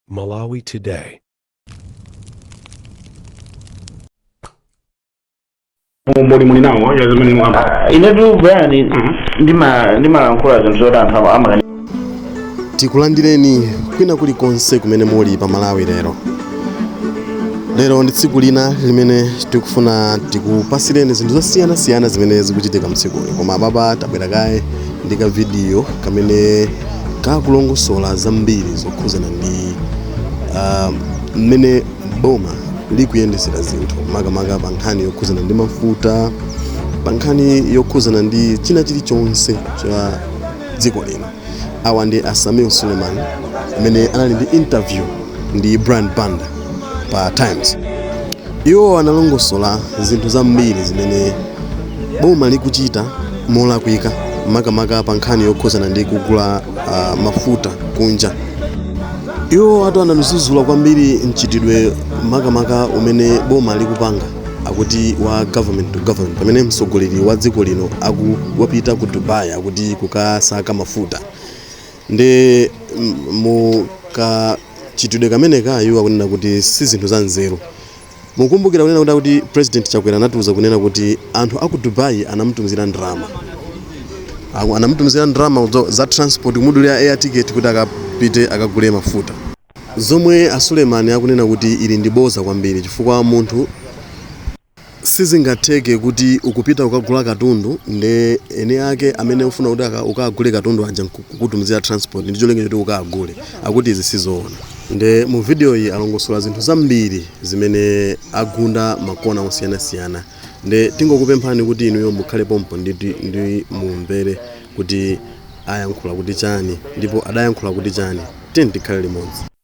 Malawi Today. umboni muli nawo wa zimene mwamba Ah, inetu Brian ndima- ndimalankhula zinthu zoti anthu ama- amakana tikulandireni kwina kulikonse kumene muli pa malawi lero lero ndi tsiku lina limene tikufuna tikupasireni zinthu zosiyanasiyana zimene zikuchitika mdzikoli koma apapa tabwera kaye ndi kavidiyo kamene kakulongosola zambiri zokhudzana ndi ah, mmene boma likuyendetsera zinthu makamaka pa nkhani yokhudzana ndi mafuta pa nkhani yokhudzana ndi china chilichonse cha dziko lino awa ndi a Sameer Suleman amene anali ndi interview ndi brian banda pa times Iwo analongosola zinthu zambiri zimene boma likuchita molakwika makamaka pa nkhani yokhudzana ndi kugula ah, mafuta kunja. Iwo ati anadzudzula kwambiri mchitidwe makamaka umene boma likupanga akuti wa government to government pamene mtsogoleri wa dziko lino akuti wapita ku Dubai akuti kukasaka mafuta. ndi mu kachitidwe kameneka iwo akunena kuti si zinthu za nzeru mukumbukira kunena kuti akuti president chakwera anatiuza kunena kuti anthu aku dubai anamutumizira ndalama Aku- anamutumizira ndalama zo- za transport kumudulira air ticket kuti akapite akagule mafuta zomwe a Suleman akunena kuti ili ndi boza kwambiri chifukwa munthu Sizingatheke kuti ukupita kukagula katundu nde eni ake amene ukufuna kuti uka- ukagule katundu aja nkukutumizira transport ndi cholinga choti ukagule akuti izi sizoona nde mu video iyi alongosola zinthu zambiri zimene agunda makona osiyanasiyana nde tingokupemphani kuti inuyo mukhale pompo ndi, ndi mumvere kuti ayankhula kuti chani ndipo adayankhula kuti chani tiyeni tikhale limodzi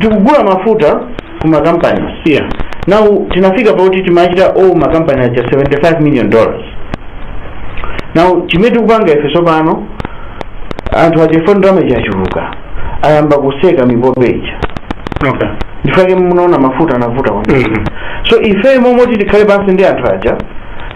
tikugula mafuta ku makampani yeah now tinafika pakuti timachita o makampani aja 75 million dollars now chimene tikupanga ife tsopano anthu aja chifukwa ndalama ija yachuluka ayamba kuseka mipope ija okay ndifake munaona mafuta anavuta kwambiri Mhm. so ife mmalo moti tikhale pansi ndi anthu aja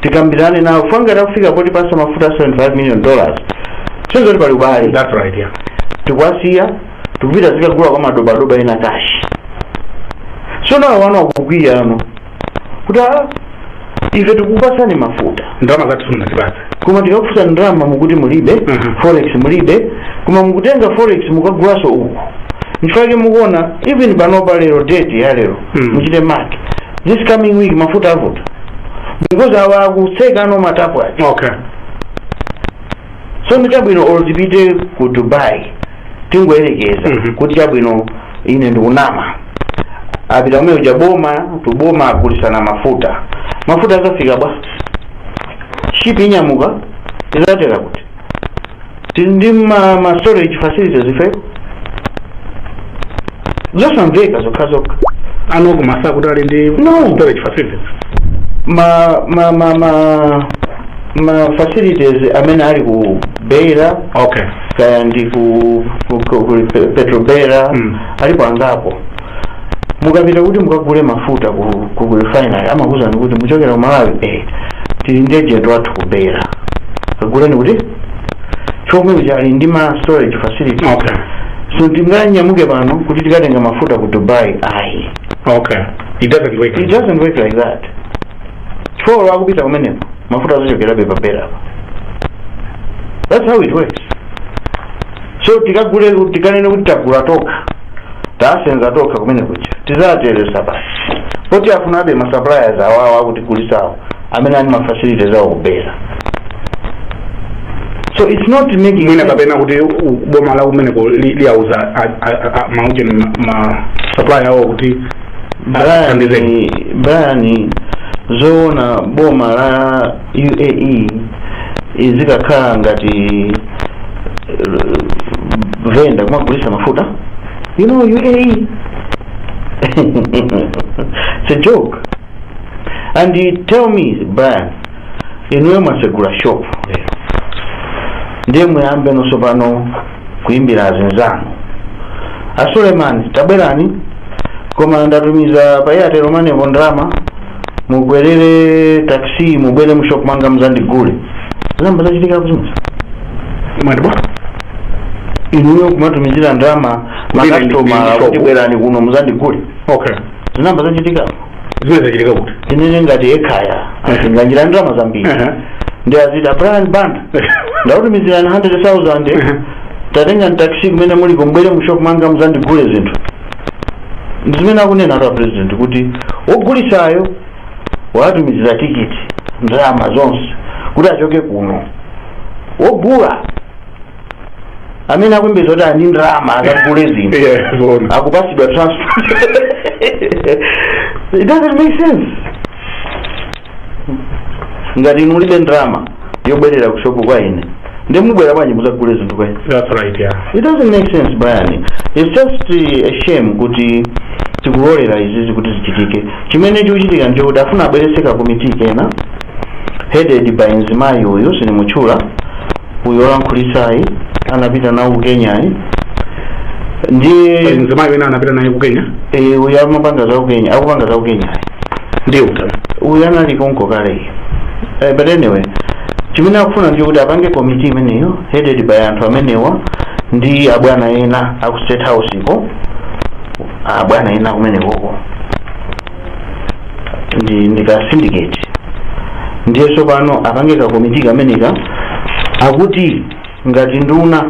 tikambirane nawo chifukwa ngati akufika potipatsa mafuta 75 million dollars ndiye kuti pali ubale that's right yeah tikuwasiya tikupita zikagula kwa madobadoba ena kashi so now awa akukwiya ano kuti "Ah, ife tikupasani mafuta ndalama zathu simunatipatse koma tikakufusa ndalama mukuti mulibe Mhm. forex mulibe koma mukutenga forex mukukagulaso uku nchifake mukuona even panopa lero date ya lero Mhm. muchite mark this coming week mafuta avuta because awa akuseka ano matapu aja okay tsono chabwino olo tipite ku dubai tingoyerekeza Mhm. kuti chabwino ine ndikunama apita kumene kuja boma tuboma agulisana mafuta mafuta akafika bwa shipi inyamuka izatera kuti tili ndi ma, ma storage facilities ife zosamveka zokhazokha anakuuzani kuti ali ndi No. storage facilities ma ma ma ma ma facilities amene ali ku beira okay kaya ndi ku, ku, ku, ku petrobera Mm. alipo angapo mukapita kuti mukagule mafuta ku, ku refinery amakuuzani kuti muchokera ku malawi eh, tili ndi agent wathu ku beira kaguleni kuti ndi yemwe uja ali ndi ma storage facility okay so tinganyamuke pano kuti tikatenga mafuta ku dubai ayi okay it doesn't work it doesn't work like that chifukwa olo kupita kumeneko mafuta azachokerabe pa beira apa that's how it works so tikagule tikanene kuti tagula tokha tasenza tokha kumene kuja tizateresa basi poti tifunabe masuppliers awawo akutigulisawo amene ali mafacility zawo ku beira so it's not making mwina sense. kapena kuti u- boma la kumeneko li- liyauza a- a- a- maujeni ma- ma supply awo kuti Brian, athandizeni. Brian zoona boma la uae izikakhala ngati eh, venda kumagulisa mafuta you know uae it's a joke and tell me brian inuyo mwasegula shop lero ndiye muyambe nonso pano kuimbira azinzanu a suleiman tabwerani koma ndatumiza pa airtel money po ndalama mukwerere taxi mubwere mushop mwanga muzandigule zinayamba zachitikapo zimenezo mwadabwa inuyo kumatumizira ndalama Kuti makasitomala abwere. kuti bwerani kuno muzandigule okay zinayamba zachitikapo zimene zachitika kuti tinene ngati ekhaya azipanga ndalama zambiri Aha. ndiye aziti brian banda ndakutumizirani 100000 tatengani taxi kumene muliko mubwere mu shop mwanga muzandigule zinthu ndi zimene akunenatu apresident kuti wogulisayo watumizira tikiti ndalama zonse kuti achoke kuno wogula amene akuyembekezeka kuti ali ndi ndalama akagule zinthu Yeah, zoona. akupasidwa transport it doesn't make sense ngati inu mulibe ndalama yokwerera ku shopu kwa ine ndiye mubwera bwanji muzagule zinthu kwa ine That's right, yeah. it doesn't make sense brian it's just uh, a shame kuti tikulolera izizi kuti zichitike chimene chikuchitika ndi chakuti afuna abwerese ka komiti kena headed by mzimayi uyu sinimutchula uyu olankhulitsayi anapita nawo ku kenyayi ndiye pali mzimayi wina anapita naye ku kenya eh, uyu amapanga za ku kenya akupanga za ku kenyayi ndiye uyu anali konko kaleyi eh, but anyway chimene akufuna ndi kuti apange komiti imeneyo headed by anthu amenewa ndi abwana ena aku state house ko abwana ena kumenekoko ndi ka syndicate ndiye tsopano apange ka komiti kameneka akuti ngati nduna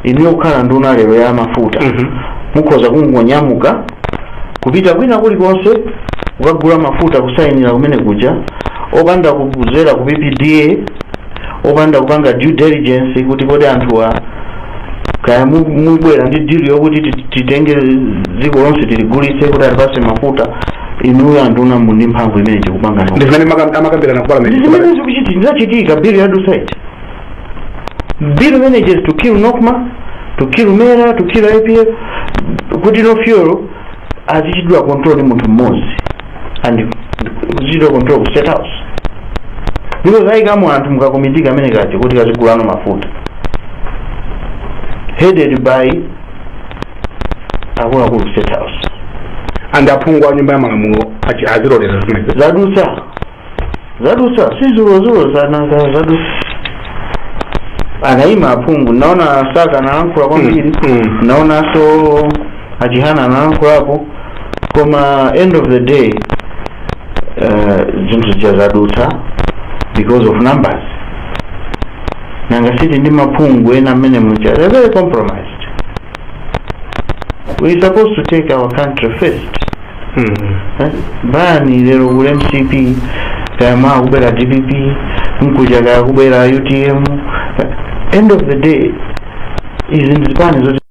inu yokhala nduna lero ya mafuta Mhm. mukhoza kungonyamuka kupita kwina kulikonse kukagula mafuta kusayinira kumene kuja opanda kuzera ku ppda opanda kupanga due diligence kuti kodi anthuwa kaya mu- mubwera ndi dili yokuti ti- titenge dziko lonse tiligulitse kuti atipatse mafuta inuyo anduna muli ndi mphamvu imene tikupanga ndi zimene maka- amakambirana ku parliament zimene zikuchiti ndizachitika bill ya dusite bill manages to kill nocma to kill mera to kill ipf kuti now fuel azichitidwa control ndi munthu mmodzi and azichitira control ku state house ndipo ayikamo anthu mukakomiti kamene kaja kuti kazigula no mafuta headed by akuluakulu ku state house and aphungu a nyumba ya malamulo achi- azilolere zimenezi zadutsa zadutsa si dzulodzulo zadutsa anayima aphungu naona saka analankhula kwambiri Mm. naonanso achihana analankhulapo koma end of the day eh, zinthu zija zadutsa because of numbers nanga siti ndimaphungu ena mmene muja they're very compromised we supposed to take our country first Eh, bani lero kule mcp kayama akubera dpp mkuja kaya kubera utm Eh, end of the day izi ndizipani zoti